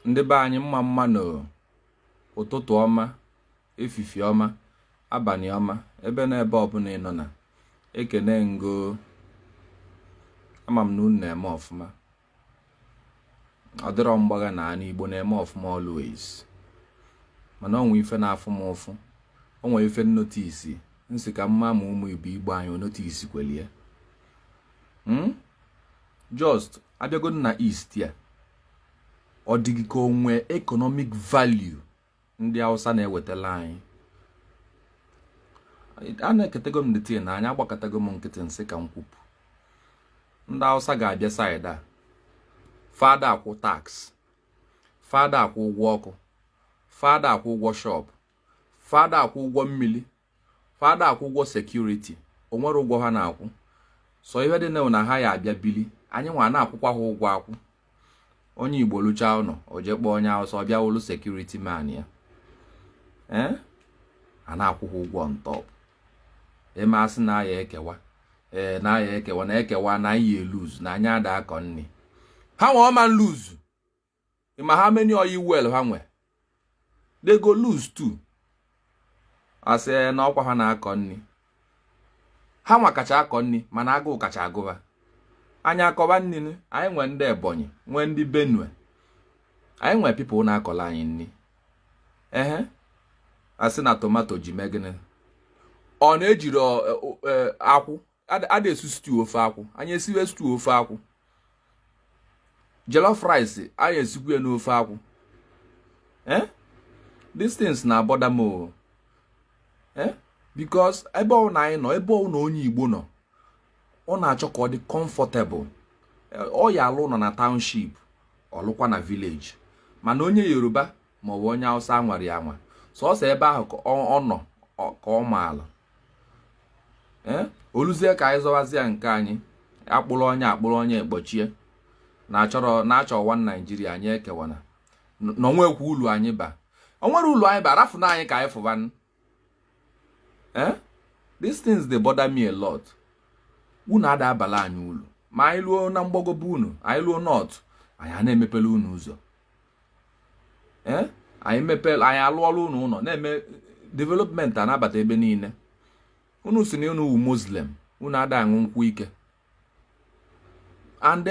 ndị be anyị mma mma nụ ụtụtụ ọma efifi ọma abanị ọma ebe na ebe ọbụla ị nọ na ekene ngo ama m na unu na-eme ọfụma ọ dịrọ mgbagha na anị igbo na-eme ọfụma always mana onwe ife na-afụ m ụfụ onwe ife m notice nsị ka m ma ma ụmụ ibe igbo anyị o notice kwelie hmm? just abịago na east here ọ dịghị ka onwe economic value ndị Hausa na-ewetala anyị enekatago m the thing na anya agbakatago m nkịtị nsị ka m kwupụ ndị Hausa ga-abịa side a fa ada akwụ tax fa ada akwụ ụgwọ ọkụ fa ada akwụ ụgwọ shop fa ada akwụ ụgwọ mmili fa ada akwụ ụgwọ security onwerọ ụgwọ ha na-akwụ sọ ihe dị na ha ya abịa bili anyị nwa na-akwụkwa ha ụgwọ akwụ onye igbo lụchaa ụnọ o jee kpọọ onye awụsa ọbịa wụlụ security man ya ee a na-akwụ ha ụgwọ on top eme asị na aya ekewa ee na aya ekewa na ekewa na anyị e-lose na anyị ada akọ nni ha nwa ọ ma lose ma how many oil well ha nwe they go lose too asị eh, na ọkwa ha na-akọ nni ha nwa kacha akọ nni mana agụụ kacha agụ fa anyị akọba nni anyị nwee ndị ebonyi nwee ndị benue anyị nwee people na-akọla anyị nni ehe asị na tomato ji mee gịnị ọ na-ejiri e, e, akwụ ada esi stew ofe akwụ anyị esiwe stew ofe akwụ jollof rice anyị esikwu ya n'ofe akwụ eh these things na-abother m o eh because ebe ọwụna anyị nọ ebe ọwụna onye Igbo nọ ọ na-achọ ka ọ dị comfortable ọ ya alụ ụnọ na township ọ lụkwa na village mana onye Yoruba maọbụ onye awụsa nwere ya nwa sọsọ ebe ahụ ka ọ nọ ka ọ ma alụ eh? oluzie ka anyị zọwazia nke anyị akpụrụ onye akpụrụ onye ekpochie na-achọrọ na-achọ one Nigeria anyị ekewana na onwekwa ulu anyị ba onwere ulu anyị ba rafụnụ anyị ka anyị fụbanụ eh these things dey bother me a lot unu ada abala anyị ulu ma anyị luo na mgbago be unu anyị luo north anyị a na-emepele unu ụzọ eh anyị mepele anyị alụọla unu ụnọ na-eme development anabata ebe niine unu sị na unu wụ muslim unu ada aṅụ nkwụ ike and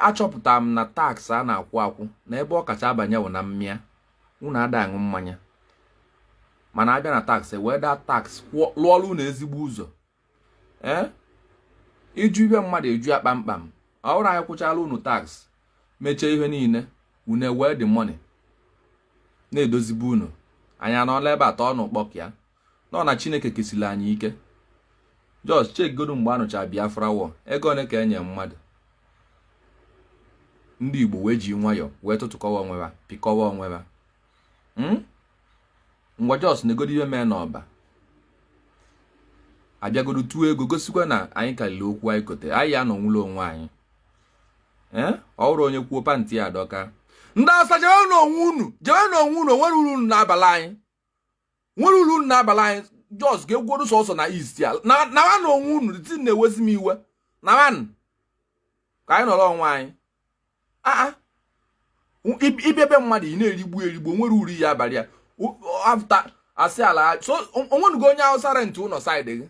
achọpụtara m na tax a na-akwụ akwụ na ebe ọ kacha abanye bụ na mmịa unu ada aṅụ mmanya mana abịa na tax wee that tax lụọrọ unu ezigbo ụzọ ee ịjụ ihe mmadụ eju ya kpamkpam ọ bụrụ anyị kwụchala unu tax mechaa ihe niile unu ewee the money na-edozi be unu anyị anọla ebe atọ ọnụ kpọk ya nọ na chineke kesiri anyị ike just chekigodo mgbe anụcha biafra ọ ego ole ka enye mmadụ ndị igbo wee ji nwayọọ wee tụtụkọwa onwe ha pịkọwa onwe ha hmm? ngwa just negodo ihe mee n'Ọba abịagodo tụọ ego gosikwa na anyị karịrị okwu anyị kote anyị ya anọnwụla onwe anyị eh? ọ bụrụ onye kwuo pantị ya adọka ndị awụsa jewe n'onwe unu jewe n'onwe unu onwere uru unu na-abala anyị nwere uru unu na-abala anyị just ga-egwuru sọsọ na east ya na nawanụ onwe unu ti na-ewezi m iwe nawanụ. ka anyị nọrọ onwe anyị aa ịbịa be mmadụ ị na-erigbu erigbu nwere uru ya abalị ya O- o- after asị ala so onwenugo onye awụsa rent ụlọ side gị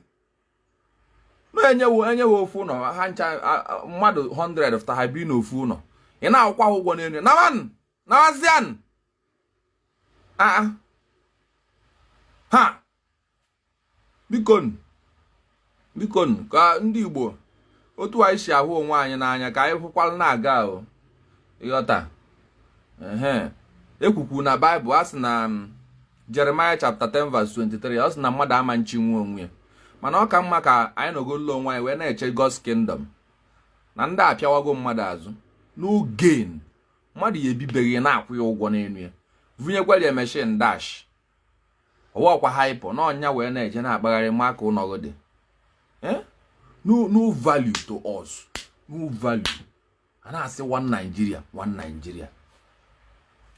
na-enye wo enye wo ofu ụlọ ha ncha a- a- mmadụ 100 fta ha bi n'ofu ụlọ ị na-akwụkwa ha ụgwọ n'elu nawanụ. nawazianụ aa ha bikonu bikonu ka ndị Igbo otu anyị si ahụ onwe anyị n'anya ka anyị hụkwala na-aga ahụ ịghọta ekwukwu na baịbụl a sị na um, jeremaya chapter 10 verse 23 ọ sị na mmadụ ama nchịnwu onwe ya mana ọ ka mma ka anyị nọgolo onwe anyị wee na-eche God's kingdom na ndị a apịawago mmadụ azụ no gain mmadụ ya ebi be gị na-akwụ ya ụgwọ n'elu ya vunyekwara ya machine dash ọwakwa haịpọ na ọnya wee na-eje na-akpagharị ma ka ụlọgụ dị eh? no value to us no value a na-asị one Nigeria one Nigeria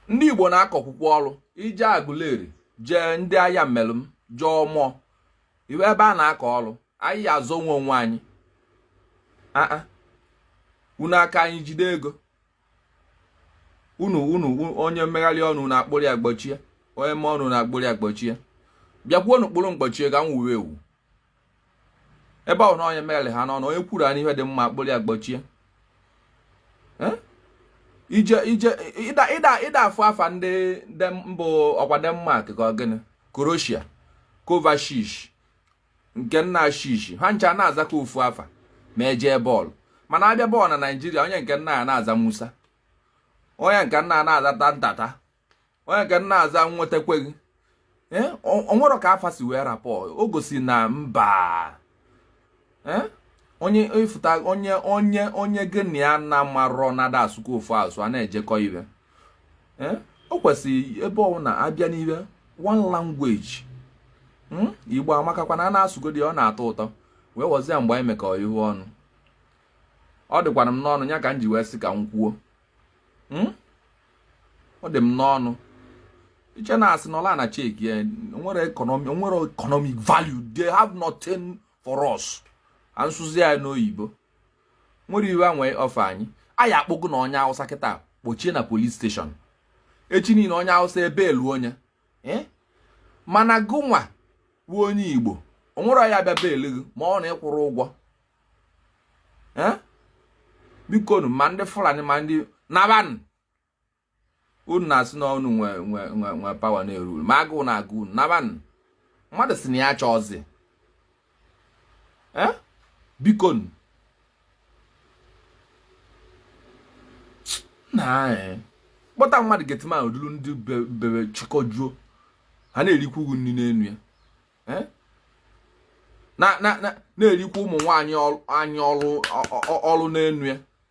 ndị Igbo na-akọkwukwa ọrụ ije Aguleri jee ndị Ayamelum jee Ọmọr iwe ebe a na-akọ ọrụ anyị azọnwu onwe anyị unu aka anyị jide ego unu unu onye megharịa ọnụ unu akpụrụ ya gbochie onye mee ọnụ unu akpụrụ ya gbochie bịakwuo nu kpụrụ m gbochie ka m wuwe ewu ebe ahụ na onye megharịa ọnụ onye kwuru unu ihe dị mma akpụrụ ya gbochie eh? ije ije ịda ịda ịda afọ afa ndị mbụ ọkwa denmark ka ọ gịnị croatia kovacic nke nna shishi ha ncha na-aza ka ofu afa ma ejee bọọlụ mana abịa bọọlụ na naijiria onye nke a na-aza musa onye nke a na-aza tantata onye nke a na-aza nwetakweghị eh, o nwere ka afa si wee rapụ o gosi na mba eh, onye ịfụta onye onye onye gịnị ya na marọ na a da-asụkọ ofu asụ a na-ejikọ ibe eh? o kwesịrị ebe ọ wụ na a bịa n'ihe one language hmm? igbo amakakwanụ a na-asụgodi ọ na-atọ ụtọ wee wọzie mgbe anyị mekọ ihe ọnụ ọ dịkwara m n'ọnụ ya ka m ji wee sị ka m kwuo hmm? ọ dị m n'ọnụ i che na a sị nọla na chek ya nwere economic value they have nothing for us ka m sụzie ya n'oyibo nwere iwe a nwee ọfa anyị anyị akpụgo na onye awụsa kịta kpochie na polis steshọn echi niile onye awụsa ebeelu onye eh? mana gụnwa bụ onye igbo o nwere ya bịa beelu gị ma ọ na ị kwụrụ ụgwọ eh? bikonụ ma ndị fulani ma ndị nabanụ unu na-asị na unu nwe nwe nwe nwe pawa na-eru uru ma agụụ na-agụ unu nabanụ mmadụ si na ya chọọzi Eh? biko nụ. na eh, kpọta mmadụ getima o dulu ndị be- bebe chịkọjuo ha na-erikwu nri n'enu ya Eh? na na na na-erikwa ụmụ nwaanyị ọrụ- anyị ọrụ ọ- ọ- ọrụ n'enu ya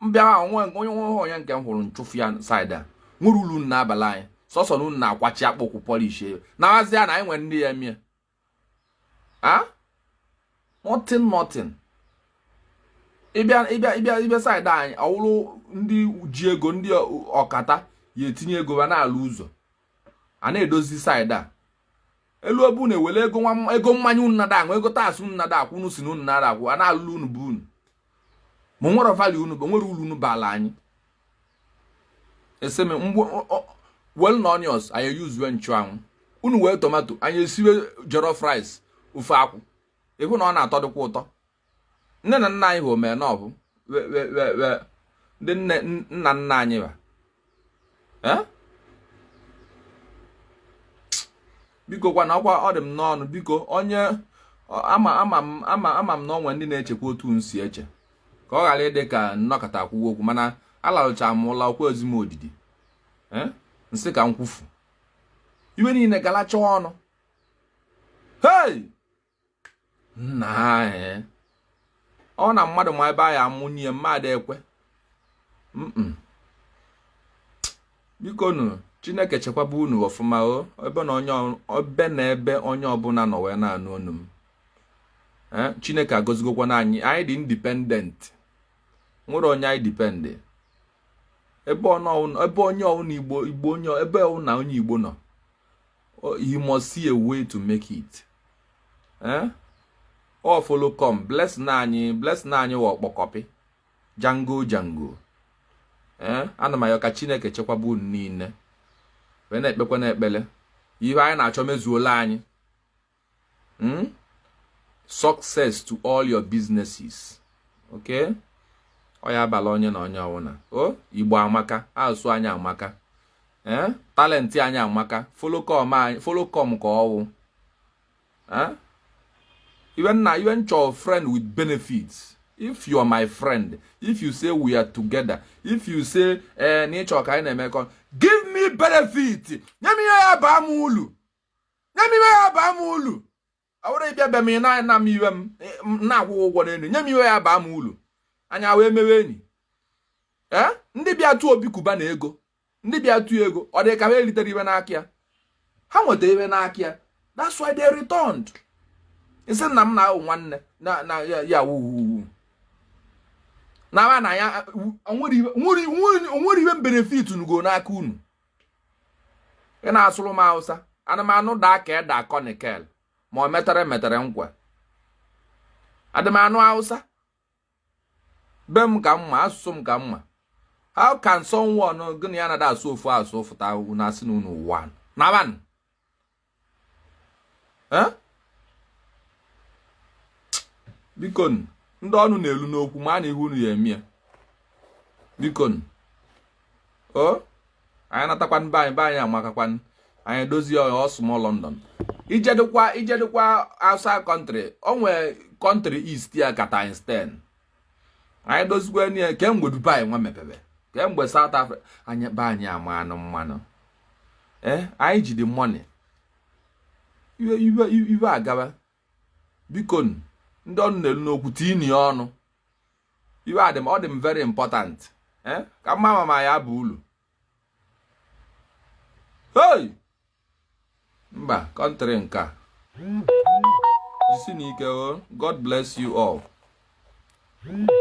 mbịa ahụ nwe onye nwe ọhụrụ ya nke m hụrụ nchụfu ya saịdị a nwere ulu unu na-abala anyị sọsọ na unu na-akwachi akpụ ụkwụ pọlish ya na mazi ya na anyị nwere ndị ya-eme ya nothing nothing ị bịa ị bịa ị bịa ị bịa saịdị anyị ọ wụrụ ndị ji ego ndị ọkata ya etinye ego ba na-alụ ụzọ a na-edozi saịdị a e luo be unu ewere ego nwa ego mmanya unu na-ada aṅụ ego taasị unu na-ada akwụ unu si na unu na-ada akwụ a na-alụlụ unu bụ unu ma nwere value unu bụ nwere uru unu baala anyị eseme mgbe wel na onions anyị yuzuwe nchụanwụ unu wee tomato anyị esiwe jollof rice ofe akwụ ị hụ na ọ na-atọdịkwa ụtọ nne na nna anyị bụ omenọbụ ndị nne nna nna anyị ba bikokwanụ ọkwa ọ dị m n'ọnụ biko onye ama ama m ama ama m na o nwee ndị na-echekwa otu m si eche ka ọ ghara ịdị ka m nọkata kwuo okwu mana alarụcha m ụla o kwezi m odidi m sị ka m kwufu iwe niile galacha ọnụ hei nna anyị ọ na mmadụ ma ebe anyị amụnye mmadụ ekwe biko nụ chineke chekwaba unu ọfụma o ebe na onye ebe na ebe onye ọbụna nọ wee na-anụ onu m eh, chineke agozigokwanụ anyị anyị dị independent nwere onye anyị depend ebe onye ọwụna igbo igbo onye ebe ọwụna onye igbo nọ oh, you must see a way to make it eh? ọ folo com bless na anyị bless na anyị wa ọkpọkọpị jango jango eh? ana m ayọ ka chineke chekwaba unu niine wee na-ekpekwa na ekpele ihe anyị na-achọ mezuola anyị hmm? success to all your businesses okay ọ ya-abala onye na onye ọwụna o oh, igbo amaka asụ anyị amaka ee eh? talent anyị amaka folokom ka ọwụ eh? iwe nna iwe m chọ friend with benefit if you are my friend if you say we are together if you say ee eh, na ị chọ ka anyị na-emekọ give me benefit nye m ihe ya-aba m ulu nye m iwe ya-aba m ulu ọ bụrụ ị bịa be m ị na-ana m iwe m na-akwụ ụgwọ n'elu nye m iwe ya-aba m ulu anyị wee mewe enyi ee ndị bịa tụọ Obi Cubana ego ndị bịa tụọ ego ọ dị ka ha eritere iwe n'aka ya ha nweta iwe n'aka ya that's why they returned ị sị na m na ahụ nwanne na na ya wuwu na na ya nwere iwe m benefit nugo n'aka unu ị na-asụlụ m Hausa adị m anụ daa ka eda akọ nikel ma ọ metere metere nkwa adị m anụ Hausa be m ka mma asụsụ m ka mma how can someone gị na ya na-ada asụ ofu asụ fụta unu asị na unu one na one biko ndị ọnụ na-elu n'okwu ma a na ihu unu ya-eme ya biko o anyị natakwa be anyị be anyị amakakwanụ anyị edozie ya ọ small London i jedukwa i jedukwa outside country o nwee country east ya ka times 10 anyị dozikwa ya kemgbe Dubai wee mepebe kemgbe South Africa anyị be anyị ama anụ mmanụ ee eh, anyị jide money iwe iwe iwe agaba biko ndị ọnụ na-elu n'okwu tinye ya ọnụ iwe a dị m ọ dị m very important eh, ka m ma ma ya bụ ulu hey mba country nka jisi na ike o oh. God bless you all